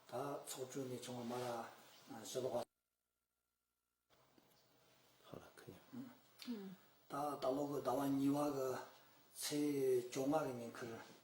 ད་ཚོགས་དྲུང་ནས་བྱུང་བ་མ་ར་ཞི་ལོག་པ། ད་ལྟ་ལོ་གོ་ཟླ་བ་གཉིས་བ་གི་ཚེས་བཅོ་ལྔ་གི་ཉིན་ཁུལ་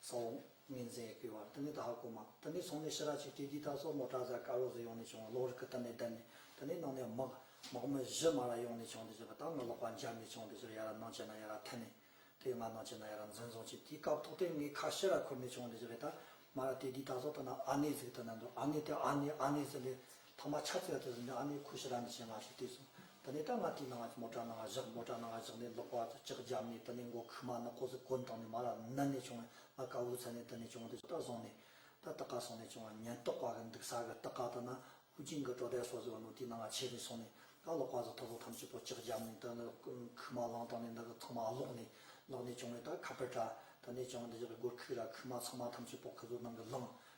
སོང། གཉིས་འཛིན་ཡི་གེའི་བར་དུ་ནི་ད་ཧ་གོ་མ། དེ་ནས་སོང་ནས་ཤི་ར་ཆིག་ཁྲི་རྒྱུད་ད་སོགས་ནོར་བྲག་བཟའ་ཀ་ལོགས་སུ་ཡོང་ནས་བྱུང་བ་ལོགས་རི་ཁུ་དར་ནས་བརྡལ་ནས་དེ་ནས་ནང་ནས་དམག། དམག་མི་བཞི་མ་ར་ཡོང་ནས་བྱུང་དེ་བྱས་པ་ད་ང་ལོག་པ་འཇར་ནས་བྱུང་དེ་ཚོར་ཡ་ར་ནང་བྱས་ན་ཡ་ར་འཐེན་ནས། དེ་ང་ནང་བྱས་ན་ཡ་ར་འཛིན་བཟུང་བྱས་དེའི་སྐབས་ཐོག་ཐེངས་ངས་ཁ་ཤི་ར་ཁུར་ནས་བྱུང་དེ་བྱས་པས་ད་མ་ར་དེ་རྒྱུད་ད་སོགས་ད་ན་ཨ་ནེ་ཟིག་ད་ན་འདུག་ཨ་ནེ་དེ་ཨ་ནེ་ཨ་ནེ་ཟེར་ནས། ཐ་མ་ཕྱག་འཚལ་དུ་གཟིགས་ནས་ཨ་ནི་ཁུ་ཤི་ར་ནི་ཞེས་ངག་ཞུ་དུས་སུ། དེ་ནས་སྐྲ་ནག་དྲིས་ནང་ང་ཅི་མོ་སྐྲ་ནག་བཞག་མོ་སྐྲ་ནག་བཞག་ནས་ལོག་པ་དུ་ལྕགས་བརྒྱབ་ནས་དེ་ནས་མགོ་ཁུག་མ་ནག་ཀོ་ཟི་ཀོ་འདང་ནས་མ་ལ་ནད་ནས་བྱུང་བས་ང་དཀའ་བོའི་ཚད་ནས་དེ་ནས་བྱུང་བ་འདི་ལྟ་སོང་ནས། ད་ལྟ་ཀ་སོང་ནས་བྱུང་བ་ཉེན་རྟོག་པ་གི་འདུག་ས་གི་ལྟ་ཀ་ད་ན་ཧུ་ཅིང་གི་དྲོ་དལ་སོགས་ཟེར་བ་ནོ་དེའི་ནང་ང་ཆས་ནས་སོང་ནས་ད་ལོག་པ་དུ་ཐོ་ཟོ་ཐམས་ཅད་པོ་ལྕགས་བརྒྱབ་ནས་དེ་ནི་ཁུག་མ་ལང་སྟང་ནས་འདི་གི་ཚང་མ་ལོག་ནས་ལོག་ནས་བྱུང་བས་ད་ཁ་པར་དྲ་དེ་ནས་བྱུང་བ་འདི་ཞག་གི་སྒོར་ཁུག་ར་ཁུག་མ་ཚང་མ་ཐམས་ཅད་པོ་ཁུ་ཟོ་ནང་གི་ལང་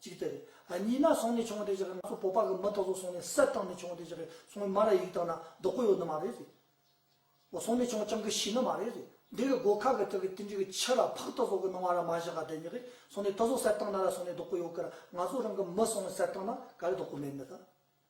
གཅིག་དེ་རེད། གཉིས་ན་སོང་ནས་བྱུང་བ་དེ་ཅག་གིས་ང་ཚོ་བོད་པ་གི་མི་དག་ཚོ་སོང་ནས་གསེར་བཏང་ནས་བྱུང་བ་དེ་ཅག་གིས་སོང་བའི་མ་ར་ཡིག་དག་ན་རྡོག་པོ་ཡོད་ནི་མ་རེད་རེད། འོ་སོང་ནས་བྱུང་བ་ཅང་གིས་ཤི་ནི་མ་རེད་རེད། འདི་གི་སྒོ་ཁ་གི་སྟེང་གི་ཏིལ་འབྲུ་གི་ཕྱི་ར་ཕག་ཏུ་ཟོག་གི་སྣང་བ་ར་མ་བཞག་ག་དེ་ཉིད་ཀྱིས་སོང་ནས་ཏུ་ཟོག་གསེར་བཏང་ན་ར་སོང་ནས་རྡོག་པོ་ཡོད་ཀི་ར་ང་ཚོ་རང་གི་མི་སོང་ནས་གསེར་བཏང་ན་ག་རེ་རྡོག་པོ་མེད་མི་ད།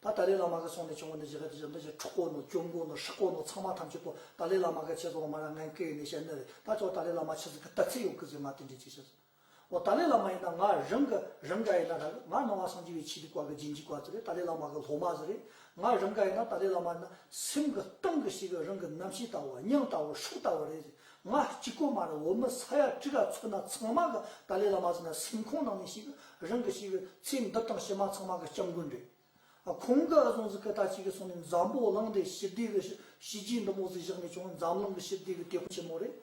ད་ཏཱ་ལའི་བླ་མ་ག་སོང་ནས་བྱུང་བ་ནི་བཞི་ཀ་དེ་བཞི་མདོ་བཞི་ཁྲུ་དཀོར་ནོ་ཅོག་མགོ་ནོ་ཧྲི་དཀོར་ནོ་ཚང་མ་ཐམས་ཅད་པོ་ཏཱ་ལའི་བླ་མ་ག་ཆེ་ཚོགས་མ་ར་ངན་སྐད་ཡིག་ནས་བཤད་ནི་རེད་ད་ཅོག་ཏཱ་ལའི་བླ་མ་ཆེ་ཚོགས་ཀྱི་དར་ཚིག་ཡོང་གི་ཟིག་ང་དེ་འདྲས་ཅིག་བྱེད་ཟིག་འོ་ཏཱ་ལའི་བླ་མ་ཡིན་ན་ང་རང་གི་རང་ག་ཡིན་ན་རང་ང་ནང་བ་སངས་རྒྱས་བའི་ཆེད་དུ་བཀའ་གི་རྗེས་འཇིག་བ་ཟིག་རེད་ཏཱ་ལའི་བླ་མ་གི་སློབ་མ་ཟིག་རེད་ང་རང་ག་ཡིན་ན་ཏཱ་ལའི་བླ་མ་ཡིན་ན་སེམས་གི་སྟེང་གི་ཞིག་རང་གི་རྣམ་ཤེས་ལྟ་བུ་སྙིང་ལྟ་བུ་ཧྲུག་ལྟ་བུ་རེད་ཟིག་ང་གཅིག་པོ་མ་རེད་འོ་མི་ས་ཡ་བཀྲིས་ར་ཚོ་ན་ཚང་མ་གི་ཏཱ་ལའི་བླ་མ་ཟེར་ན་སེམས་ཁོང་ནང་མི་ཞིག་རང་གི་ཞིག་ཚེ་འདི་དང་ཕྱི་མ་ཚང་མ་གི་སྐྱབས་མགོན་རེད། ཁོང་གི་གཟུངས་ཟི་ཀི་ད་ཅིག་གི་སོང་ནས་འཛམ་བོ་གླིང་འདི་ཞི་བདེ་གི་བྱས་རྗེས་འདི་མོ་ཟིག་བཞག་ནས་ཀྱང་འཛམ་གླིང་གི་ཞི་བདེ་གི་དེ་ཁོ་ཆེན་མོ་རེད།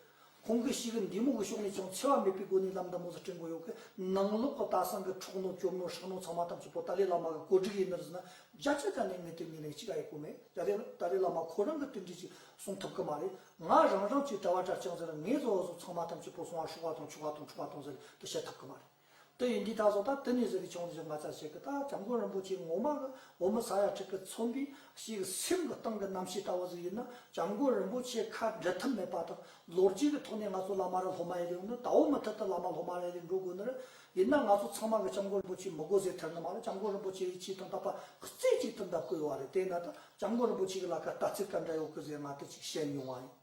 ཁོང་གི་ཞིག་འདི་མོ་གི་ཕྱོགས་ནས་ཀྱང་འཚེ་བ་མེད་པའི་སྒོ་ནས་ལམ་འདི་མོ་ཟིག་སྤྲིང་དགོས་ཡོད་གི་ནང་ལོག་གི་ད་སང་གི་འཕྲོག་ནོ་སྐྱོབ་ནོ་ཧྲག་ནོ་ཚང་མ་ཐམས་ཅད་པོ་ཏཱ་ལའི་བླ་མ་གི་གོ་སྒྲིག་ཡིན་ནིར་ཟེར་ན་རྒྱ་ཆ་ཆ་ནས་ངས་དེར་ངེས་ལེགས་གཅིག་ཨ་ཡེ་གོ་མེད་རྒྱ་ལས་ཏཱ་ལའི་བླ་མ་ཁོ་རང་གི་དོན་འགྲེལ་གཅིག་གསུང་ཐུབ་གི་མ་རེད། ང་རང་རང་ཚོའི་གྲྭ་བ་གྲྭ་བྱང་ཟེར་ངེས་ཟོ་བ་ཟོ་ཚང་མ་ཐམས་ཅད་པོ་སོང་བ་ཤོག་བ་དང་ཆུ་བ་དང་འཁྲུ་བ་དང་ཟེར་དུ་བཤད་ཐུབ་གི་མ་རེད་དེ་ཡིན་དུས་ད་གཟོད་ད་དེ་ནས་ཟེར་གི་ཆོག་ནས་ཟེར་ང་ཚར་བཤད་གི་ད་བྱམས་མགོན་རིན་པོ་ཆེ་ངོ་མ་གི་འོ་མི་ཟ་ཡ་ཁྲི་ཀི་ཚོམ་བུའི་ཞིག་གི་སེམས་གི་སྟེང་གི་རྣམ་ཤེས་ལྟ་བ་ཟིག་ཡོད་ན་བྱམས་མགོན་རིན་པོ་ཆེ་ཁ་འབྲལ་ཐབས་མེད་པ་དང་ལོ་རྒྱུས་གི་ཐོག་ནས་ང་ཚོ་བླ་མ་རེད་སློབ་མ་ཡེ་རེད་འོ་ན་དྭོགས་མི་ཐུབ་དུ་བླ་མ་སློབ་མ་རེད་རེད་འགྲོ་དགོས་ནི་རེད་ཡིན་ན་ང་ཚོ་ཚང་མ་གི་བྱམས་མགོན་རིན་པོ་ཆེ་མི་དགོས་ཟེར་ཐལ་ནི་མ་རེད་བྱམས་མགོན་རིན་པོ་ཆེ་ཡི་ཆེད་དུ་འདག་པ་རྩེ་གཅིག་ཏུ་འདག་དགོས་བ་རེད་དེ་ན་ད་སྐྱབས་མགོན་རིན་པོ་ཆེ་གི་ལ་ཁར་ལྟ་ཚིག་ག་འདྲ་ཡོད་ཁུ་ཟེར་མ་ཏི་ཅིག་བཤད་ཡོང་བ་ཡིན།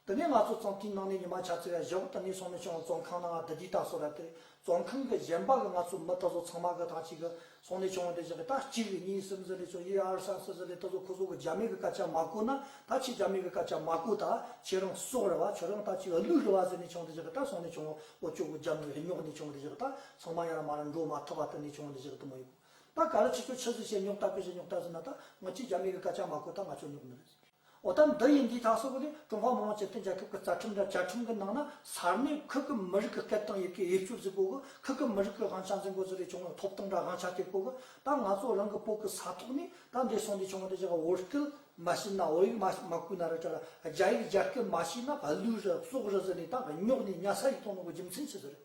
འདི་ནས་ང་ཚོ་ཙོང་ཁྲིན་ནང་ནས་ཉི་མ་ཆ་ཚེ་བའི་ཞབས་ཏི་ནས་སོང་ནས་ཆུང་བ་ཙོང་ཁང་ནང་ང་འདི་དུས་ལྟ་སོ་ར་དེ་ཙོང་ཁང་གི་གཞན་པ་གི་ང་ཚོ་མི་ཏི་ཚོ་ཚང་མ་གི་ཐང་ཅིག་གི་སོང་ནས་ཆུང་བ་དེ་བཞག་གི་ད་གཅིག་རེ་གཉིས་སིམ་ཟི་རེ་ཚོ་ཡེ་ཨར་སན་སི་ཟི་རེ་ཏི་ཚོ་ཁོ་ཚོ་གི་རྒྱ་མི་གི་སྐད་ཆ་མ་གོ་ན་ད་ཁྱེད་རྒྱ་མི་གི་སྐད་ཆ་མ་གོ་ད་ཁྱེད་རང་སོག་རེ་བ་ཁྱོད་རང་ད་ཅིག་གླུད་རེ་བ་ཟེར་ནས་ཆུང་བ་དེ་བཞག་གི་ད་སོང་ནས་ཆུང་བ་ཨོ་ཅོག་གི་རྒྱ་མི་རེ་ཉོག་ནས་ཆུང་བ་དེ་བཞག་གི་ད་ཚང་མ་ཡར་མར་འགྲོ་མ་ཐུབ་པ་ཏི་ནས་ཆུང་བ་དེ་བཞག་གི་ཏི་མོ་ཡིན། ད་ག་རེ་ཆུ་ཚོད་ཆུ་ཟིག་བྱས་མྱོང་ལྟ་གོས་བྱས་མྱོང་ལྟ་ཟིན་ན་ད་ང་ཅིག་རྒྱ་མི་གི་སྐད་ཆ་མ་གོ་ད་ང་ཆོ་མྱོང་གི་མི་རེད་ཟེར། འོ་ད་འདི་ཡིན་འདི་ཐག་སོགས་ལས་ཀྲུང་ཧྭ་མི་དམངས་སྤྱི་མཐུན་རྒྱལ་ཁབ་ཀྱི་རྩ་ཁྲིམས་དང་བཅའ་ཁྲིམས་ཀྱི་ནང་ན་གསར་མའི་ཁུལ་གྱི་མི་རིགས་ཀྱི་སྐད་དང་ཡི་གེ་དབྱིབས་སྐྱུར་ཟིག་པོ་གི་ཁུལ་གྱི་མི་རིགས་ཀྱི་དབང་ཆ་འཛིན་པོ་ཟིག་རེ་བྱུང་ན་ཐོབ་ཐང་དང་དབང་ཆ་དེ་གོ་གི་ད་ང་ཚོ་རང་གི་སྤོ་གི་ས་ཐོག་ནས་ད་འདི་སོང་འདི་བྱུང་བ་འདི་བྱུང་བོད་སྐད་མ་ཤེས་ན་བོད་ཡིག་མ་ཤེས་མ་གོས་ན་རེ་བྲལ་རྒྱ་ཡིག་རྒྱ་སྐད་མ་ཤེས་ན་བ་ལུས་རེ་སྲོག་རེ་ཟེར་ནས་ད་ཉོག་ནས་ཉལ་ས་ཡིག་ཐོག་ནང་གི་རྒྱུ་མཚན་ཆི་ཟེར་རེད།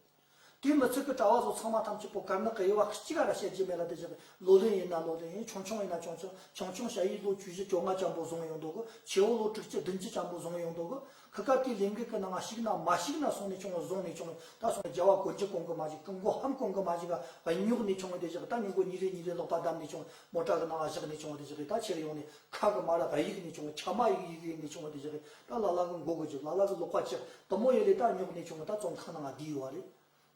དུས་མི་ཚོད་ཀྱི་གྲྭ་བ་བཟོ་ཚང་མ་ཐམས་ཅད་པོ་དཀར་ནག་གི་དབྱེ་བ་གཅིག་ག་ར་བྱེད་རྒྱུ་མེད་ལ་དེ་བཞག་པའི་ལོ་ལོན་ཡིན་ན་ལོ་ལོན་ཡིན་ཆུང་ཆུང་ཡིན་ན་ཆུང་ཆུང་ཆུང་ཆུང་བྱ་ཡིས་ལོ་བཅུ་བཞི་བཅོ་ལྔ་ལྕམ་པོ་བཟུང་ཡོང་འདུག་གོ་ཆེ་བོ་ལོ་དྲུག་ཅུ་བདུན་ཅུ་ལྕམ་པོ་བཟུང་ཡོང་འདུག་གོ་སྐབས་དེའི་ལས་འགུལ་གྱི་ནང་ཞིག་ན་མ་ཞིག་ན་སོང་ནས་བྱུང་བ་བཟུང་ནས་བྱུང་ད་སོང་ནས་རྒྱལ་བ་གོ་འཇིག་གོང་གི་མ་ཞིག་ཀུན་མགོ་ཧམ་གོང་གི་མ་ཞིག་ག་རྙོག་ནས་བྱུང་བ་དེ་བཞག་ད་མྱུ་གུ་ཉིན་རེ་ཉིན་རེ་ལོག་པ་བསྡམས་ནས་བྱུང་བ་མོ་བྲག་གི་ནང་བཞག་ནས་བྱུང་བ་དེ་བཞག་གི་ད་ཕྱིར་ཡོང་ནས་ཁ་གི་མ་ལ་ར་ཡིག་ནས་བྱུང་བ་ཁྱབ་མ་ཡིག་ཡིག་ཡིག་ནས་བྱུང་བ་དེ་བཞག་གི་ད་ལ་ལ་གི་མགོ་དགུ་རྒྱུག་ལ་ལ་གི་ལོག་པ་ལྕི་དུམ་མོ་ཡོད་ལས་ད་ཉོག་ནས་བྱུང་བ་ད་བཙོང་ཁང་ན་ང་བསྡད་ཡོད་བ་རེད།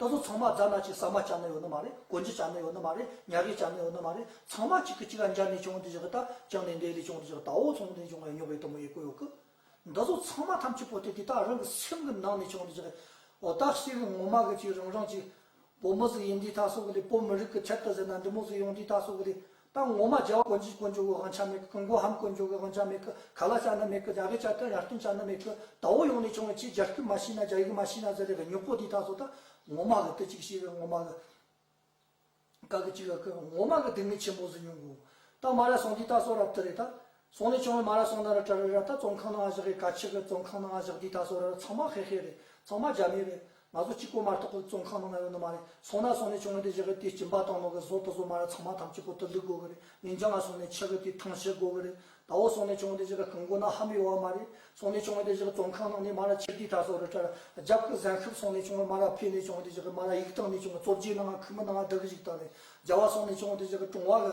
ད་སོ་ཚང་མ་རྫ་ནག་ཅིག་ཟ་མ་བྱ་ནི་ཡོད་ནི་མ་རེད་གོ་འཇི་བྱ་ནི་ཡོད་ནི་མ་རེད་ཉག་གིས་བྱ་ནི་ཡོད་ནི་མ་རེད་ཚང་མ་གཅིག་གི་གཅིག་ག་འཇར་ནས་བྱུང་དུ་བཞག་གི་ད་བཅང་ནས་འདས་ལས་བྱུང་དུ་བཞག་ད་འོ་ཚོང་དུ་བྱུང་བ་ཡོད་ཉོག་རེད་དུམ་མོ་ཡོད་གོ་ཡོད་གི། འདི་ཚོ་ཚང་མ་ཐམས་ཅད་པོ་ཏི་ཏི་ད་རང་གི་སེམས་གི་ནང་ནས་བྱུང་དུ་བཞག་གི་འོ་ད་སེ་གི་ངོ་མ་གི་ཅིག་རང་རང་ཅིག་བོད་མི་སུ་ཡིན་དེའི་ཐག་གསོ་གི་ལས་བོད་མི་རིགས་ཀྱི་ཁྱད་དུ་ཟིན་ན་འདི་མོ་སུ་ཡོང་དེའི་ཐག་གསོ་གི་ལས་ད་ངོ་མ་རྒྱལ་བ་དཀོན་ཅིག་དཀོན་ཅོག་གི་དབང་ཆ་མེད་གི་མགོ་ཧམ་དཀོན་ཅོག་གི་དབང་ཆ་མེད་གི་ག་ལ་བཅའ་ན་མེད་གི་རྒྱ་བོད་བཅའ་སྟོན་ཡར་སྟོན་བཅའ་ན་མེད་གི་ད་འོ་ཡོང་ནས་བྱུང་བའི་ཆེས་རྒྱ་སྐྱུག་མ་ཤི་ན་རྒྱ་ཡུག་མ་ཤི་ན་ཟེར་ལས་གི་མྱུག་པོ་དེའི་ཐག་གསོ་ད་ངོ་མ་གི་དུ་གཅིག་ཤི་གི་ངོ་མ་གི་ག་གི་གཅིག་གི་ངོ་མ་གི་སྡུག་བསྔལ་ཆེན་པོ་སུ་མྱོང་གི་འོང་ད་མ་ར་སོང་དེའི་ཐག་གསོ་རབ་དུ་རེད་ད་སོང་ནས་ཅོང་ལ་མ་ར་སོང་ན་ར་ཏྲ་རི་ར་ད་བཙོང་ཁང་ན་ཨ་བཞག་གི་ཀ་ཆི་གི་བཙོང་ཁང་ན་ཨ་བཞག་དུས་ད་སོ་ར་ར་ཚང་མ་ཧེ་ཧེ་རེད་ཚང་མ་རྒྱ་མི་རེད་ང་ཚོ་གཅིག་པོ་མ་རྟོག་གི་བཙོང་ཁང་ན་ང་ཡོད་ནི་མ་རེད་སོང་ན་སོང་ནས་ཅོང་ལ་དེ་བཞག་གི་དུས་སྐྱིན་པ་དང་ནོག་གི་བཟོ་དུ་བཟོ་མ་ར་ཚང་མ་ཐམས་ཅད་གོ་ཏུ་ལུག་དགོ་གི་རེད་མིང་བྱང་ང་སོང་ནས་ཆག་གི་དུས་ཐང་ཆད་དགོ་གི་རེད་ད་འོ་སོང་ནས་ཅོང་དེ་བཞག་གི་ཁང་གོ་ན་ཧ་མི་ཡོ་བ་མ་རེད་སོང་ནས་ཅོང་ལ་དེ་བཞག་གི་བཙོང་ཁང་ནང་ནས་མ་ར་ཁྱེར་དུས་ད་སོ་ར་ཏྲ་ར་རྒྱབ་གི་གཟན་ཤོབ་སོང་ནས་ཅོང་ལ་མ་ར་ཕེ་ནས་ཅོང་དེ་བཞག་གི་མ་ར་ཡིག་བཏང་ནས་ཅོང་གི་བཙོ་བརྒྱད་ནང་ང་ཁུ་མི་ནང་ང་བདག་གི་ཡིག་བཏང་རེད་རྒྱ་བ་སོང་ནས་ཅོང་དེ་བཞག་གི་ཀྲུང་བ་གི་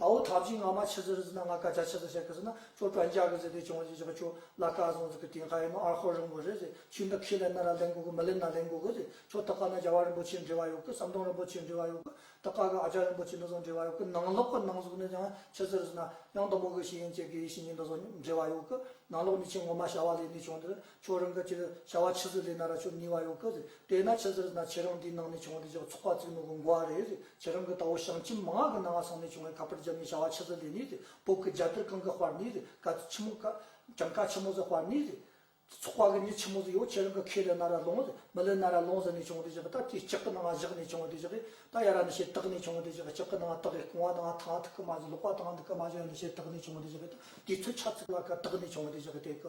ད་འོ་ཐབས་ཅིག་ང་མ་ཆི་ཟི་རི་ཟི་ན་ང་སྐ་ཆ་ཆི་ཟི་ཤ་ཁི་ཟི་ན་ཅོ་ཀྲ་འཇག་གི་ཟི་དེ་ཅོང་ཅི་ཅི་ཁ་ཅོ་ལ་སྐ་ཟོང་ཟི་ཁི་ཏིན་ཧ་ཡེ་མོ་ཨར་ཧོ་རིང་བོ་རེ་ཟི་ཁྱི་འདི་ཁི་ལེ་ན་ར་ལེ་འགུ་གི་མི་ལེ་ན་ལེ་འགུ་གི་ཟི་ཅོ་ཏི་ཀ་ན་རྒྱ་བ་རིན་པོ་ཆེ་འདྲེ་བ་ཡོ་གི་ཟམ་གདོང་རིན་པོ་ཆེ་འདྲེ་བ་ཡོ་གི་ཏི་ཀ་གི་ཨ་ཅག་རིན་པོ་ཆེ་འདི་ཟོང་འདྲེ་བ་ཡོ་གི་ནང་ལོག་གི་ནང་གཟུགས་ནི་ཀྱང་ཆི་ཟི་རི་ཟི་ན་གཡང་དུམ་བུ་གི་ཤི་ཡན་ཅེ་གི་ཡེ་ཤི་ཉི་འདི་ཟོང་འདྲེ་བ་ཡོ་གི་ནང་ལོག་ནི་ཆེ་ངོ་མ་བྱ་བ་ལས་ནི་ཅོང་འདི་ཅོག་རང་གི་ཆེད་དུ་བྱ་བ་ཕྱི་ཟུར་ལས་ན་ར་ཆོད་ནུས་པ་ཡོང་གི་རེད་དེས་ན་ཕྱི་ཟུར་ན་ཁྱེད་རང་འདིའི་ནང་ནས་བྱུང་བ་དེ་ཅོག་ཚོགས་པ་བཙུགས་ནོ་གི་འགོ་བ་རེད་ཁྱེད་རང་གི་ད་བོ་ཞང་ཁྱིམ་མ་ང་གི་ནང་ང་སོང་ནས་བྱུང་བའི་ཁ་པར་རྒྱབ་ནས་བྱ་བ་ཕྱི་ཟུར་ལས་ནི་རེད་བོད་ཀྱི་རྒྱ་དར་གང་གི་དཔར་ནི་རེད་ཀ་ཆི་མོ་ཀ་གྱང་ཀ་ཆི་མོ་ཟི་དཔར་ནི་རེད་ཚོགས་པ་གི་ནི་ཆི་མོ་ཟི་ཡོད་ཁྱེད་རང་གི་ཁས་ལེ་ན་ར་ལོང་མི་ལེ་ན་ར་ལོང་ཟི་ནས་བྱུང་བ་དེ་ཅོག་ད་དེ་སྐྱག་གི་ནང་ང་བཞག་ནས་བྱུང་བ་དེ་ཅོག་ད་ཡ་ར་ནི་ཤེས་རྟགས་ནས་བྱུང་བ་དེ་ཅོག་སྐྱག་གི་ནང་ང་རྟགས་གོང་བ་ནང་ང་ཐང་ཐུག་གི་མ་བཞག་ལོག་པ་ཐང་ཐུག་གི་མ་བཞག་ཡ་ནི་ཤེས་རྟགས་ནས་བྱུང་བ་དེ་ཅོག་ད་དེ་ཚོད་ཆ་ཚུགས་ལ་ཀ་རྟགས་ནས་བྱུང་བ་དེ་ཅོག་དེ་ཀི་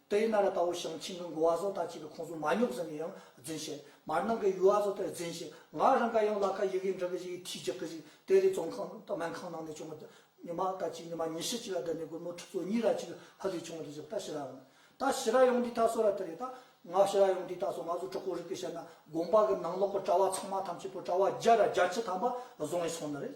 ཏཱ་ཡི་ན་ར་ཏའོ་ཞང་ཆིང་གི་མགོ་བ་སོགས་དང་བཅས་པའི་ཁོངས་སུ་མ་ཉོག་ཟེར་ནས་ཡང་རྫུན་བཤད། མར་ནང་གི་ཡུལ་བ་སོགས་དེར་རྫུན་བཤད། ང་རང་ག་ཡང་ལ་ཁ་ཡི་གེ་འབྲི་གི་ཞིག་ཡིན་ཐུས་ཅི་གི་ཞིག་དེ་རེད་ཙོང་ཁང་སྨན་ཁང་ནང་ནས་བྱུང་བ་ཉི་མ་ཟླ་གཅིག་ཉི་མ་ཉི་ཤུ་གཅིག་ལ་བསྡད་ནས་སྒོར་མོ་ཁྲི་ཚོ་གཉིས་ར་གཅིག་ཧ་ལས་བྱུང་བ་རེད་ཟེར་བ་ད་ཤི་ར་ཡོང་ད་ཤི་ར་ཡོང་འདི་ད་སོ་ར་དེ་རེད་ད། ང་ཤི་ར་ཡོང་འདི་ད་སོ་ང་ཚོ་གྲོགས་པོ་རིག་པས་བཤད་ན་དགོངས་པ་གི་ནང་ལོག་གི་གྲྭ་བ་ཚང་མ་ཐམས་ཅད་པོ་གྲྭ་བ་བརྒྱ་ར་བརྒྱ་ཁྱི་ཐམ་པ་བཟུང་ནས་སོང་ནི་རེད།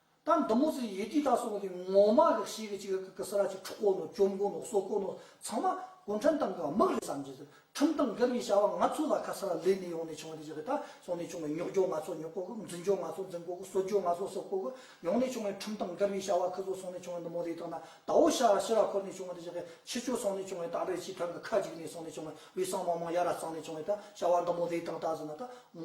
ད་འདི་མོ་ཚོས་ཡེ་དུས་ད་སོང་གི་ངོ་མ་གི་ཤེས་གི་ཅིག་གི་གི་སི་ར་ཅིག་ཁྲུ་དཀོན་ནོ་གཅོམ་དགོན་ནོ་སོ་དཀོན་ནོ་ཚང་མ་གུང་ཁྲན་ཏང་གི་དམག་རེད་བསམ་གྱི་འདུག་ཁྲིམས་ཏང་སྒེར་གྱི་བྱ་བ་ང་ཚོ་ལ་ག་སི་ར་ལས་ནས་ཡོང་ནས་བྱུང་བའི་དུས་ཀྱི་ད་སོང་ནས་བྱུང་བའི་ཉོག་འཇོག་ང་ཚོ་ཉོག་དགོ་གི་འཛིན་འཇོག་ང་ཚོ་འཛིན་དགོ་གི་གསོད་འཇོག་ང་ཚོ་སོད་དགོ་གི་ཡོང་ནས་བྱུང་བའི་ཁྲིམས་ཏང་སྒེར་གྱི་བྱ་བ་གི་ཚོ་སོང་ནས་བྱུང་བའི་འདི་མོ་དེ་དག་ན་ད་འོ་ཤ་ར་ཤི་ར་འཁོར་ནས་བྱུང་བའི་དུས་ཀྱི་གི་ཕྱི་ཆོས་སོང་ནས་བྱུང་བའི་ད་བེར་སྤྱི་ཐང་གི་ཁ་ཅིག་ནས་སོང་ནས་བྱུང་བའི་དབུས་གཙང་མང་མང་ཡ་ར་གཙང་ནས་བྱུང་བའི་ད་བྱ་བ་འདི་མོ་དེ་དག་ད་གཟིགས་ན་ད་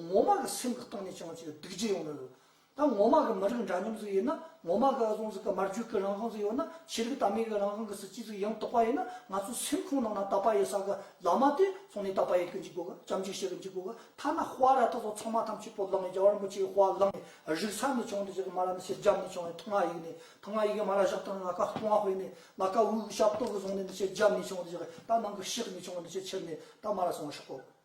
ངོ་མ་གི་སེམས་གི་སྟེང་ནས་བྱུང་བ་ཅིག་གི་སྡིག་སྦྱིན་ཡོང་ནི་རེད། ད་ངོ་མ་གི་མི་རིགས་འདྲ་མཉམ་ཟིག་ཡོད་ན་ངོ་མ་གི་ཨ་ཟོང་ཟིག་གི་མར་རྒྱུད་གི་རང་དབང་ཟིག་ཡོད་ན་ཆོས་ལུགས་དར་མེད་གི་རང་དབང་གི་སྲིད་སྤྱི་ཟིག་ཡང་དག་པ་ཡོད་ན་ང་ཚོ་སེམས་ཁུང་ནང་ན་དག་པ་ཡོད་ས་གི་ལག་མ་དེ་སོང་ནས་དག་པ་ཡོད་གི་འཇུག་གོ་གི་བྱམས་བརྩེ་ཞིག་གི་འཇུག་གོ་གི་ཐ་ན་དཔའ་ར་ཐག་ཚོགས་ཚང་མ་ཐམས་ཅད་པོ་ལག་ནས་རྒྱ་གར་རིན་པོ་ཆེ་གི་དཔའ་བླངས་ནས་རིག་ས་ནས་བྱུང་འདི་ཟེར་གི་མ་ར་ནི་སེར་སྐྱ་ནས་བྱུང་བའི་ཐུང་ང་ཡིག་ནས་ཐུང་ང་ཡིག་གི་མ་ར་བཞག་ཐང་ང་ཀ་ཐུང་ང་ཧོས་ནས་ང་ཀ་འུག་ཞབས་ཏོག་གི་བཟུང་ནས་འདི་ཆེ་རྒྱབ་ནས་བྱུང་འདི་ཟེར་གི་ད་ནང་གི་ཤེག་ནས་བྱུང་འདི་ཆེ་ཆེར་ནས་ད་མ་ར་སོང་ཤོག་གོ་གི།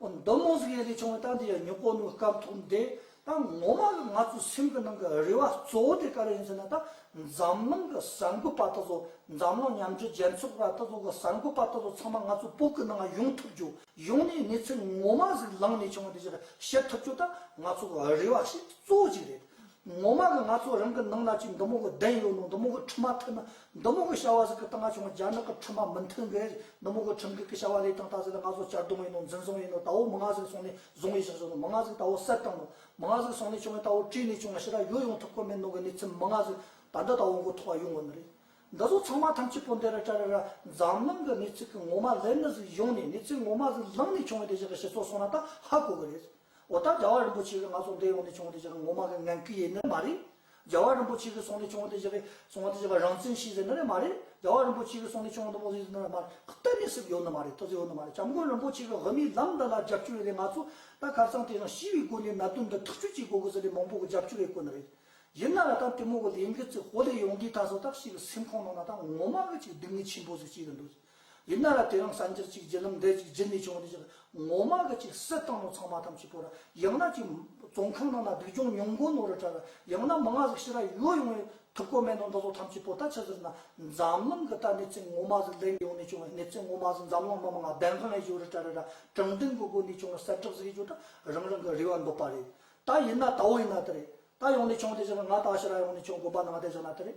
མདོ་མོ་གཟུགས་ཡན་ལས་བྱུང་བའི་རྟགས་འདི་ཡང་ཉོན་གོ་ནོའི་སྐབས་མཐོང་དེ་ད་ངོ་མ་ང་ཚོའི་སེམས་ཀྱི་ནང་གི་རེ་བ་གཙོ་བོ་དེ་ག་རེ་ཡིན་ཟེར་ན་ད་འཛམ་གླིང་གི་གསར་འགོད་པ་ད་གཟོད་འཛམ་གླིང་མཉམ་འབྲེལ་རྒྱལ་ཚོགས་པ་ད་གཟོད་གི་གསར་འགོད་པ་ད་གཟོད་ཚང་མ་ང་ཚོའི་བོད་ཀྱི་ནང་ཡོང་ཐུབ་རྒྱུ་ཡོང་ནས་གནས་ཚུལ་ངོ་མ་ཟིག་ལངས་ནས་བྱུང་བ་དེ་ཞིག་ཤེས་ཐུབ་རྒྱུ་ད་ང་ཚོ་གི་རེ་བ་ཞིག་གཙོ་བོ་ཅིག་རེད། ངོ་མ་གི་ང་ཚོ་རང་གི་ནང་ན་ཅིག་མདོ་མོ་གི་གདན་ཡོད་ནོ་མདོ་མོ་གི་ཁྲི་མ་ཐོན་ན་མདོ་མོ་གི་བྱ་བ་ཟིག་གི་སྟངས་ང་ཆུང་རྒྱ་ནག་གི་ཁྲི་མ་མི་མཐུན་གི་མདོ་མོ་གི་ཁྲིམས་འགལ་གི་བྱ་བ་ལས་སྟངས་ད་ཟིག་ལ་ང་ཚོ་གཅར་རྡུང་ཡིན་ནོ་འཛིན་བཟུང་ཡིན་ནོ་ད་བོ་མི་ང་ཟིག་སོང་ནས་བཟུང་ཡི་ཞག་བྱུང་ནོ་མི་ང་ཟིག་ད་བོ་གསལ་བཏང་ནོ་མི་ང་ཟིག་སོང་ནས་བྱུང་བས་ད་བོ་བྲིས་ནས་བྱུང་ན་ཕྱི་དྲག་ཡོད་ཡོང་ཐུབ་ཁོ་མེད་ནོ་གི་གནས་ཚུལ་མི་ང་ཟིག་ད་འདི་ད་བོ་མགོ་ཐོག་ཡོང་གི་ནི་རེད་འདི་ཚོ་ཚང་མ་ཐམས་ཅད་པོ་འདི་ར་ཏྲ་ར་ར་འཛམ་གླིང་གི་གནས་ཚུལ་གི་ངོ་མ་ལེར་ནི་ཟིག་ཡོང་ནས་གནས་ཚུལ་ངོ་མ་ཟིག་ལངས་ནས་བྱུང་བས་དེ་བཞིན་གི་སྤྱི་ཚོགས་སོང་ན་ད་ཧ་གོ་གི་རེད། འོ་ད་རྒྱལ་བ་རིན་པོ་ཆེ་གི་ང་ཚོ་འདི་ཡོང་ནས་བྱུང་བ་དེ་བཞག་ངོ་མ་གི་ངན་སྐུལ་ཡེ་ནི་མ་རེད། རྒྱལ་བ་རིན་པོ་ཆེ་གི་སོང་ནས་བྱུང་བ་དེ་བཞག་སོང་བ་དེ་བཞག་རང་བཙན་ཤེས་ཟེར་ནི་རེད་མ་རེད། རྒྱལ་བ་རིན་པོ་ཆེ་གི་སོང་ནས་བྱུང་བ་འདི་མོ་ཟེར་ནི་རེད་མ་རེད་གཏན་ནས་སིབ་ཡོད་ནི་མ་རེད་ཐུགས་བརྩེ་ཡོད་ནི་མ་རེད་སྐྱབས་མགོན་རིན་པོ་ཆེ་གི་དབུ་མའི་ལམ་འདི་ལ་རྒྱབ་སྐྱོར་ཡོད་ལས་ང་ཚོ་ད་ཁ་བསང་དེ་རང་ཞི་བའི་སྒོ་ནས་ན་དོན་འདི་ཐག་གཅོད་བྱེད་དགོས་གི་ཟེར་ལས་མང་པོ་གི་རྒྱབ་སྐྱོར་ཡོད་དགོས་ནི་རེད། ཡིན་ན་ལ་ད་དེ་མོ་གི་ལས་འགུལ་ཚིག་ཧོ་ལས་ཡོང་དུས་ད་སོ་ད་ཤི་གི་སེམས་ཁོང་ནང་ན་ད་ངོ་མ་གི་ཅིག་སྡུག་བསྔལ་ཆེན་པོ་ཟིག་སྐྱེས་གི་འདུག་ཟེར། ཡིན་ན་ལ་དེ་རིང་གསར་འགྱུར་གཅིག་བརྒྱུད་ལམ་འདེད་གཅིག་བརྒྱུད་ནས་བྱུང་བ་དེ་ཕྱིར་ངོ་མ་གི་ཅིག་སྲིད་ཏང་ནང་ཚང་མ་ཐམས་ཅད་པོ་ར་ཡང་ན་ཅིག་བཙོན་ཁང་ནང་ན་སྡུག་སྦྱོང་ཉུང་མགོ་ནོར་རུ་གྲགས་ཡང་ན་མི་ང་ཟིག་ཕྱི་ར་ཡོད་ཡོང་བའི་ཐུབ་ཀོ་མེད་ནོ་འདི་ཚོ་ཐམས་ཅད་པོ་ད་ཕྱི་ཟིར་ན་འཛམ་གླིང་གི་ད་གནས་ཚད་ངོ་མ་ཟིག་ལེགས་ཡོང་ནས་བྱུང་བའི་གནས་ཚད་ངོ་མ་ཟིག་འཛམ་གླིང་མི་མང་བདེན་དཔང་ལས་བཞུགས་རུ་གྲགས་རེད་ར་དྲང་བདེན་གི་སྒོ་ནས་བྱུང་བའི་གསལ་བསྒྲགས་ཟིག་ཡོད་རྒྱུ་ད་རང་རང་གི་རེ་བ་འདོད་པ་རེད་ད་ཡིན་ན་ད་འོ་ཡིན་ན་དེ་རེད་ད་ཡོང་ནས་བྱུང་དེ་ཕྱིར་ང་ད་ཕྱི་ར་ཡོང་ནས་བྱུང་དགོན་པ་ནང་བསྡད་བཞག་ན་དེ་རེད་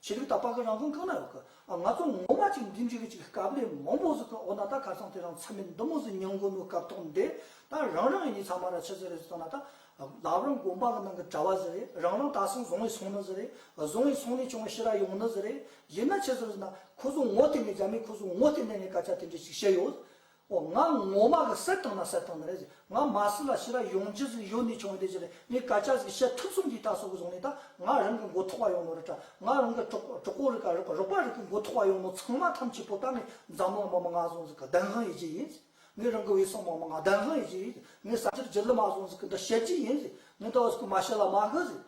བྱེད་རིགས་དག་པ་གི་རང་བཟོ་གང་ན་ཡོད་གི། ང་ཚོ་ངོ་མ་ཅིག་འདི་འདྲི་གི་ཅིག་སྐབས་ལས་མང་པོ་ཟིག་གི་འོ་ན་ད་གར་སོང་དེ་རང་ཚ་མི་འདི་མོ་ཟིག་ཉོན་དགོས་མོད་སྐབས་ཐོག་འདི་ད་རང་རང་གི་ཉི་ཚ་མ་ར་ཆི་ཟིག་རེད་ཟིག་ཐོག་ན་ད་ལབ་རང་དགོན་པ་གི་ནང་གི་གྲྭ་བ་ཟིག་རེད་རང་རང་དག་སང་བཟང་བའི་སོང་ནི་ཟིག་རེད་བཟང་བའི་སོང་ནས་བྱུང་བའི་ཤི་ར་ཡོང་ནི་ཟིག་རེད་ཡིན་ན་ཆི་ཟིག་རེད་ཟིག་ན་ཁོ་ཟོ་ངོ་དེ་ནས་རྒྱ་མི་ཁོ་ཟོ་ངོ་དེ་ནས་ནས་སྐད་ཆ་དེ་འདྲི་ཅིག་བཤད་ཡོད་ཨོ་ང་ངོ་མ་གི་སེར་ཐང་ན་སེར་ཐང་ན་རེད་ཟེར་ང་མ་སི་ལ་ཤི་ར་ཡོང་རྗེས་ཟིག་ཡོད་ནི་ཆུང་དེ་ཟེར་ངའི་ཀ་ཅག་ཟིག་བཤད་ཐུབ་སོང་གི་ད་སོག་གི་བཟུང་ནི་ད་ང་རང་གི་མགོ་ཐོག་བ་ཡོང་ནོ་རི་ཏྲ་ང་རང་གི་གྲོག་གྲོག་གོ་རི་ཀ་རི་ཀ་རོག་པ་རི་ཀི་མགོ་ཐོག་བ་ཡོང་ནོ་ཚང་མ་ཐམས་ཅད་པོ་ཏཱ་ནི་འཛམ་གླིང་མ་མ་ང་བཟུང་ཟིག་གི་བདེན་དབང་ཡི་རྗེ་ཡིན་ཟེར་ངའི་རང་གི་བའི་སོག་མ་མ་ང་བདེན་དབང་ཡི་རྗེ་ཡིན་ཟེར་ངའི་ས་ཆར་རྗེ་ལི་མ་བཟུང་ཟིག་གི་འདི་བཤད་རྗེ་ཡིན་ཟེར་ངའི་ད་བཟུག་གི་མ་ཤི་ལ་མ་གི་ཟེར་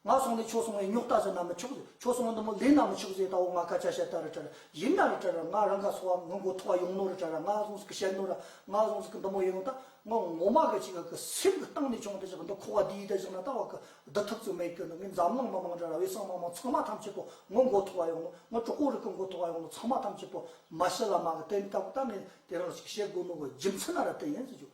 ང་སོང་ནས་ཆོས་སོང་བས་རྙོག་དྲ་ཟེར་ན་མི་ཆོག་ཟེར་ཆོས་སོང་བས་འདི་མོ་ལེན་ན་མི་ཆོག་ཟེར་ད་འོ་ང་ཀ་ཅག་བཤད་ད་རི་བྲལ་ཡིན་ན་རི་བྲལ་ར་ང་རང་ག་སོང་བ་ངུ་མགོ་ཐོག་བ་ཡོང་ནོ་རི་བྲལ་ར་ང་སོང་ཟིག་གི་བཤད་ནོ་ར་ང་སོང་ཟིག་གི་འདི་མོ་ཡོང་ད་ང་ངོ་མ་གི་ཅིག་གི་སེམས་གི་སྟེང་ནས་བྱུང་ད་ཅིག་འདི་ཁོ་བ་འདིའི་ད་ཅིག་ན་ད་བ་གི་འདི་ཐུབ་ཚུལ་མེད་ཀི་འདི་ངའི་འཛམ་གླིང་མི་མང་འདྲ་ར་བའི་སྲང་མ་མང་ཚང་མ་ཐམས་ཅད་པོ་ངུ་མགོ་ཐོག་བ་ཡོང་ནོ་ངའི་གྲོགས་པོ་རི་གི་མགོ་ཐོག་བ་ཡོང་ནོ་ཚང་མ་ཐམས་ཅད་པོ་མ་ཤི་ལ་མ་གི་དེ་ནས་ད་ཀོ་ད་ངས་དེ་རང་ཅིག་བཤད་དགོས་ནོ་གི་རྒྱུ་མཚན་ན་ར་དེ་ཡིན་ཟེར་བྱུང་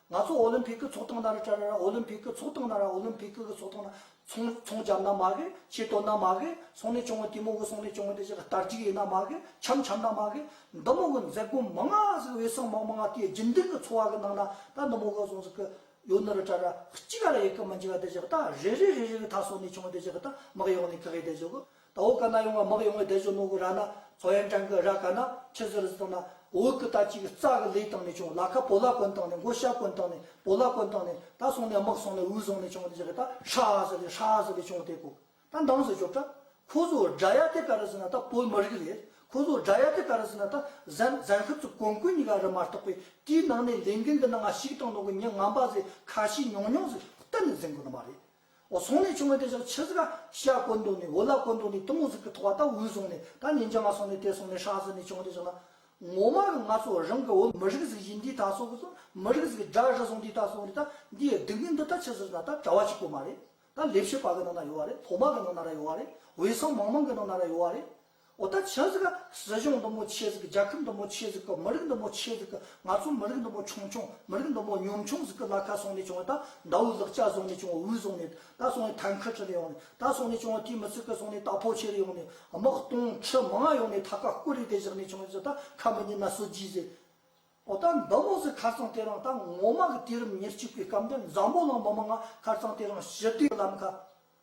ང་ཚོ་ཨོ་ལིམ་ཕིག་གི་ཚོགས་སྟངས་ན་རི་ཀྲ་ན་ར་ཨོ་ལིམ་ཕིག་གི་ཚོགས་སྟངས་ན་ར་ཨོ་ལིམ་ཕིག་གི་ཚོགས་སྟངས་ན་ཚོང་ཚོང་བྱམས་ན་མ་གི་ཆེ་དོ་ན་མ་གི་སོང་ནས་ཅོང་ཏི་མོ་གི་སོང་ནས་ཅོང་ཏི་ཆེ་གི་དར་ཅིག་ཡིན་ན་མ་གི་ཆམ་ཆམ་ན་མ་གི་འདི་མོ་གི་མཛད་སྒོ་མང་ང་ཟིག་འོད་སྲང་མང་མང་ང་དེའི་རྒྱུན་ལྡིང་གི་འཚོ་བ་གི་ནང་ན་ད་འདི་མོ་གི་སོང་ཟིག་གི་ཡོ་ན་རི་ཀྲ་ར་གཅིག་ག་ལ་ཡི་གི་མི་འཇིག་ག་དེ་ཆེ་གི་ད་རེ་རེ་རེ་རེ་གི་ད་སོང་ནས་ཅོང་ཏི་ཆེ་གི་ད་མི་གཡོག་ནས་གི་གི་དེ་ཆེ་གི་ད་འོ་ཀ་ན་ཡོང་བ་མག་ཡོང་བའི་དལ་བཞོ་ནོ་གུ་ར་ན་ཚོ་ཡན་ཀྲན་གི་ར་ཀ་ན་ཆི་ཟི་རི་ཟི་ཏང་ན་འོ་ཀུ་ད་ཅིག་རྩ་གི་ལས་བཏང་ནས་བྱུང་ལ་ཁ་པོ་ལ་གོན་བཏང་ནས་མགོ་ཤ་གོན་བཏང་ནས་པོ་ལ་གོན་བཏང་ནས་ད་སོང་ནས་མག་སོང་ནས་འུ་སོང་ནས་བྱུང་ནས་ཇི་གི་ད་ཧྲ་ཟི་ལི་ཧྲ་ཟི་ལི་བྱུང་དེ་གུ་ད་འདང་ཟི་ཞོབ་ཏྲ་ཁོ་ཟོ་སྒྲ་ཡ་དེ་ཀ་རི་ཟི་ན་ད་པོ་མི་རི་གི་རེད་ཁོ་ཟོ་སྒྲ་ཡ་དེ་ཀ་རི་ཟི་ན་ད་ཟན་ཟན་ཁུ་ཚུ་གོན་གུ་ཉི་ག་རི་མ་རྟོག་པའི་དུས་ནང་ནས་ལས་འགན་གི་ནང་ང་ཞིག་བཏང་ནོ་གུ་ཉི་ང་འབའ་ཟེ་ཁ་ཤི་ཉོང་ཉོང་ཟི་གཏན་ནས་ཟིན་གུ་ནི་མ་རེད་བཟུང་ནས་བྱུང་བའི་དེ་སོགས་ཕྱི་ཟིག་ཤ་བཀོལ་མདོག་ནི་འོ་ལ་བཀོལ་མདོག་ནི་གཏུམ་མོ་ཟིག་གི་ཐོག་བ་ལྟ་བུའི་བཟུང་ནས་ད་ཉིན་བྱ་མ་སོང་ནས་དེ་སོང་ནས་ཧྲག་ཟིག་ནས་བྱུང་བ་དེ་སོགས་ན། ངོ་མ་ང་ཚོ་རང་གི་འོ་མི་རིགས་ཟིག་བཞིན་འདི་ད་སོགས་ཀྱི་སོགས་མི་རིགས་ཟིག་སྒྲ་རི་སོགས་འདི་ད་སོགས་རི་ད་འདིའི་སྡིག་མིན་འདི་ད་ཕྱི་ཟིག་ན་ད་གྲྭ་བ་གཅིག་པོ་མ་རེད་ད་ལས་བྱེད་པ་གི་ནང་ན་ཡོད་བ་རེད་ཕོ་མ་གི་ནང་ན་ར་ཡོད་བ་རེད་འོས་སམ་མང་མང་གི་ནང་ན་ར་ཡོད་བ་རེད། འོ་ད་བྱས་ཟིག་ག་སྲིད་གཞུང་འདི་མོ་བྱས་ཟིག་ག་རྒྱལ་ཁབ་འདི་མོ་བྱས་ཟིག་ག་མི་རིགས་འདི་མོ་བྱས་ཟིག་ག་ང་ཚོ་མི་རིགས་འདི་མོ་ཆུང་ཆུང་མི་རིགས་འདི་མོ་ཉུང་ཆུང་ཟིག་ག་ལ་ཁ་སོང་ནས་བྱུང་བ་ད་མདའ་བོའི་ལག་ལྕགས་བཟུང་ནས་བྱུང་བ་འུར་བཟུང་ནས་ད་སོང་ནས་ཐང་ཁ་ཁྲི་ལ་ཡོང་ནས་ད་སོང་ནས་བྱུང་བ་དེ་མི་ཚིག་ག་སོང་ནས་ད་ཕོ་ཆེ་རུ་ཡོང་ནས་དམག་སྟོང་ཁྲི་མང་ཡོང་ནས་ད་ཁ་སྐུ་རིགས་དེ་བཞག་ནས་བྱུང་ཟིག་ད་ཁ་མི་ཉན་ན་སོ་རྒྱུས་ཟིག་འོ་ད་འདི་མོ་ཟིག་ཁར་ཚང་དེ་རང་ད་ངོ་མ་གི་དུས་རིམ་ཉེར་གཅིག་པའི་སྐབས་འདི་འཛམ་བུ་གླིང་མི་མང་ང་ཁར་ཚང་དེ་རང་ཞི་བདེའི་ལམ་ཁ།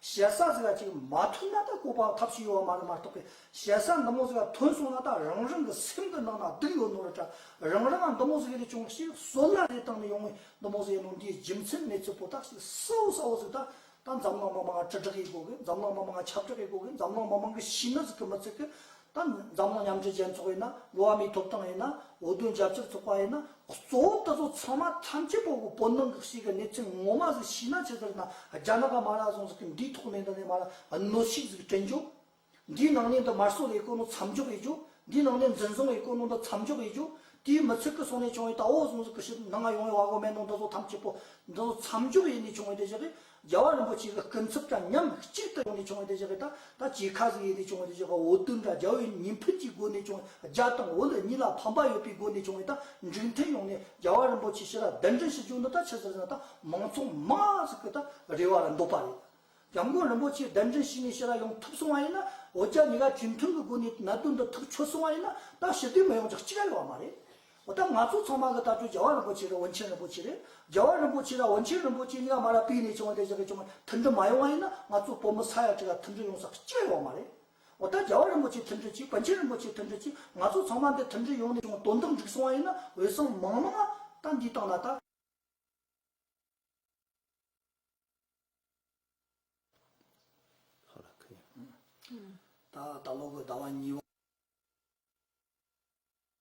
ཞལ་བཟང་ཟེར་བ་ཅིག་མ་ཐོན་ན་ད་གོ་ཕང་ཐབས་ཤིག་ཡོད་བ་མ་རེད་མ་གཏོགས་པའི་ཞལ་བཟང་འདི་མོ་ཟེར་བ་ཐོན་སོང་ན་ད་རང་རང་གི་སེམས་གི་ནང་ན་སྡུག་ཡོད་ནོར་འདྲ་རང་རང་ང་འདི་མོ་ཟེར་ཡོད་ལས་ཅུང་ཞིག་བཟོ་ལ་རེ་བཏང་ནས་ཡོང་ངོས་འདི་མོ་ཟེར་ཡོད་ནོར་འདིའི་རྒྱུ་མཚན་མེད་ཚུལ་པོ་ཏག་ཞིག་སྲ་བོ་སྲ་བོ་ཟིག་ད་ད་འཛམ་གླིང་མི་མང་ང་དྲི་དྲག་གིས་གོ་གི་འཛམ་གླིང་མི་མང་ང་ཁྱབ་དྲག་གིས་གོ་གི་འཛམ་གླིང་མི་མང་གི་ཤི་ན་ཟིག་གི་མི་ཚིག་གི་ད་ནི་འཛམ་གླིང་མཉམ་འབྲེལ་རྒྱལ་ཚོགས་ཡིན་ན་འགྲོ་བ་མིའི་ཐོབ་ཐང་ཡིན་ན་བོད་དོན་རྒྱབ་སྐྱོར་ཚོགས་པ་ཡིན་ན་གཙོ་བོ་འདི་ཚོ་ཚང་མ་ཐམས་ཅད་པོ་བོད་ནང་གི་ཞིག་གི་གནས་ཚུལ་ངོ་མ་ཟིག་ཤེས་ན་ཇི་ལྟར་ན་རྒྱ་ནག་གི་མ་ལག་ཟུང་ཟིག་གི་འདིའི་ཐོག་ནས་འདི་ནས་མ་ལ་གནོད་ཤིག་ཟིག་དྲན་རྒྱུ། འདིའི་ནང་ནས་འདི་དམར་གསོད་ལས་དཀོན་ནོ་མཚམས་འཇོག་ཡོད་རྒྱུ། འདིའི་ནང་ནས་འཛིན་བཟུང་ལས་དཀོན་ནོ་འདི་མཚམས་འཇོག་ཡོད་རྒྱུ། དེའི་མི་ཚིག་གི་སོགས་ནས་བྱུང་བའི་ད་བོ་ཟུང་ཟིག་གི་ཞིག་ནང་ང་ཡོང་བའི་བ་གོ་མེད་ནོ་འདི་ཚོ་ཐམས་ཅད་པོ་འདི་ཚོ་མཚམས་འཇོག་ཡེ་ནས་བྱུང་བའི་དེ་ཞིག་གིས་རྒྱལ་བ་རིན་པོ་ཆེ་གི་སྐུ་འཚུབ་ཀྱང་ཉམས་གཅིག་ཏུ་ཡོང་ནས་བྱུང་བ་དེ་བཞག་གི་ད་ད་ཇི་ཁ་ཟིག་ཡིན་ཏེ་བྱུང་བ་དེ་བཞག་གི་འོ་དུད་འདྲ་རྒྱལ་བོའི་ཉིན་ཕུད་ཀྱི་སྒོ་ནས་བྱུང་བ་རྒྱ་དང་འོ་ལོད་གཉིས་ལ་ཕམ་པ་ཡོད་པའི་སྒོ་ནས་བྱུང་བས་ད་འགྲིག་མཐུན་ཡོང་ནས་རྒྱལ་བ་རིན་པོ་ཆེ་ཕྱི་ལ་གདན་འདྲེན་ཞུ་ཆོག་འདི་ད་ཕྱི་ཟེར་ན་ད་མང་ཚོགས་མང་ཟིག་གི་ད་རེ་བ་ལ་འདོད་པ་རེད། རྒྱ་མགོན་རིན་པོ་ཆེ་གདན་འདྲེན་ཞུས་ནས་ཕྱི་ལ་ཡོང་ཐུབ་སོང་བ་ཡིན་ན་འོ་རྒྱ་ཉི་ག་དུས་མཐུན་གི་སྒོ་ནས་ནད་དུག་འདི་ཐུག་ཆོད་སོང་བ་ཡིན་ན་ད་ཞི་བདེ་མི་ཡོང་ཅག་གཅིག་རེ་བ་མ་རེད། འོ་ད་ང་ཚོ་ཚང་མ་གི་ལྟ་གྲུབ་རྒྱལ་བ་རིན་པོ་ཆེ་དང་དབོན་ཆེན་རིན་པོ་ཆེ་རེད། རྒྱལ་བ་རིན་པོ་ཆེ་དང་དབོན་ཆེན་རིན་པོ་ཆེ་གཉིས་ཀ་མ་ལ་པིས་ནས་བྱུང་བ་དེ་བཞིན་གྱི་བྱུང་བ་མཐུན་སྒྲིལ་མ་ཡོང་བ་ཡིན་ན་ང་ཚོ་བོད་མི་ས་ཡ་གཅིག་ལ་མཐུན་སྒྲིལ་ཡོང་ས་སྐྱེ་ཡོང་བ་མ་རེད། འོ་ད་རྒྱལ་བ་རིན་པོ་ཆེ་མཐུན་སྒྲིལ་གྱིས་དབོན་ཆེན་རིན་པོ་ཆེ་མཐུན་སྒྲིལ་གྱིས་ང་ཚོ་ཚང་མ་འདི་མཐུན་སྒྲིལ་ཡོང་ནས་བྱུང་དོན་དག་འགྲིག་སོང་བ་ཡིན་ན་འོས་སམ་མང་མང་ཨ་ད་འདི་བཏང་ན་ད། ད་ལོ་གི་ཟླ་བ་གཉིས་པ།